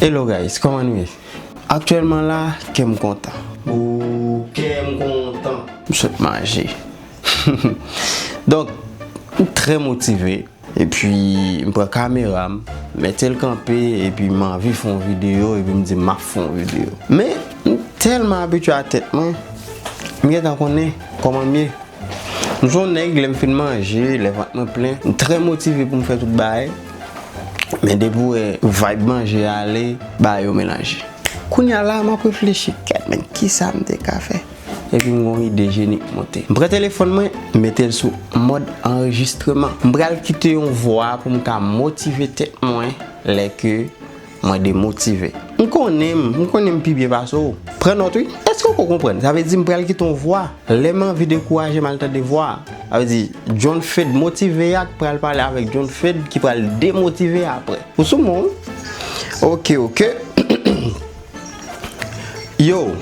Hello guys kòman nou ye? Aktyèlman la kèm kontan. Ooh kèm kontan. M sot manje. Donk m trè motive. Epi m pran kamera m. Mete l kanpe epi m anvi fè yon videyo epi m di map fè yon videyo. Men m tèlman abitye a tèt mwen. M gentan konnen kòman m ye. M son nèg lè m fin manje, lè vant mwen plen. M trè motive pou m fè tout bagay. Men depi ou wè vibe manje a ale, bagay yo melanje. Kounya la map reflechi kèt men kisa m te ka fè? Epi m gen yon ide jeni k monte. M pran telefòn mwen, m mete l sou mòd anrejistreman. M pral kite yon vwa pou m ka motive tèt mwen lè ke Mwen demotive. M konnen m, m konnen m pi byen pase w. Pran nòt wi. Èske w ko konprann? Sa vle di m pral kite yon vwa. Lè m anvi dekouraje m al tande vwa a. Sa vle di, John Fed motive a k pral pale avèk John Fed ki pral demotive a aprè. Ou sou men w wi. Ok, ok. Yow,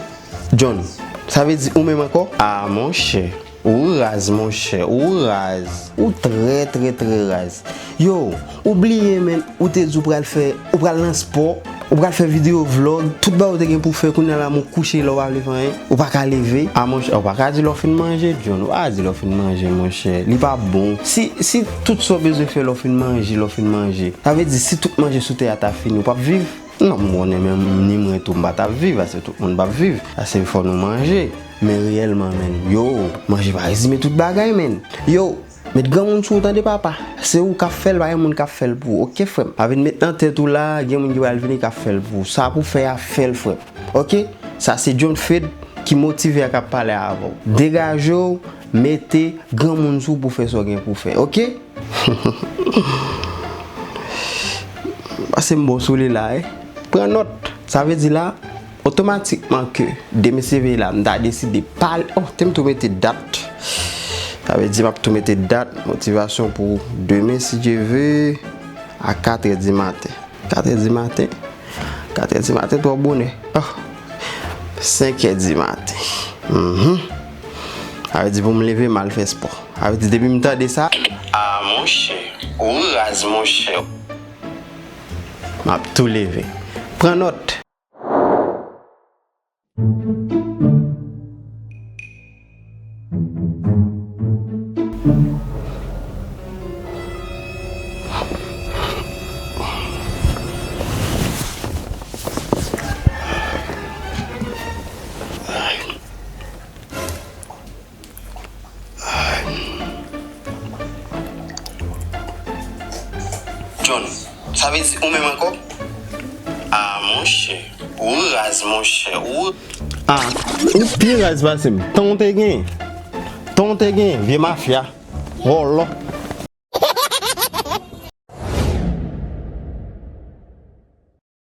John. Sa vle di ou menm ankò? Ah monchè. Ou raz monchè ou raz. Ou trè trè trè raz. Yow ou bliye menn ou te di ou pral fè ou pral nan spò ou pral fè video vlog tout bagay ou te gen pou fè kounya la moun kouche la ou pa vle fè anyen ou paka leve a monchè ou paka di lè ou fin manje John ou paka di lè ou fin manje monchè li pa bon si si tout sa ou bezwen fè lè ou fin manje lè ou fin manje sa vle di si tout manje sou tè a ta fini ou pap viv. Non m konnen men ni mwen tou m pa tap viv ase tout moun pap viv ase fò nou manje men reyèlman menn yoo manje pa rezime tout bagay menn yoo met granmoun sou ou tande papa se ou kap fèl pa gen moun kap fèl pou ou ok frèm pa vin met nan tèt ou laa gen moun ki pral vini kap fèl pou ou sa pou fè a fèl frèm ok sa se John Fed ki motive a kap pale avèw degajew mete granmoun sou ou pou fè sa w gen pou fè ok. Pase m ba w sou li la e. Pran nòt. Sa vle di la, otomatikman ke demen se veye la, m ta deside pa al. Oh, te m tou mete dat. Sa vle di m ap tou mete dat motivasyon pou demen si Dye ve a 4 è di maten. 4 è di maten? 4 è di maten twò bonè. Oh! 5 è di maten. Mh! Sa vle di pou m leve m al fè spò. Sa vle di depi m tande sa. Ah monchè, ou raz monchè. M ap tou leve. Pran nòt! John, sa vle di ou menm ankò? Ah monchè, ou raz monchè, ou. Ah, ou pi raz pase m. Tan w te genyen. Tan w te genyen, vye mafya. Vòlò.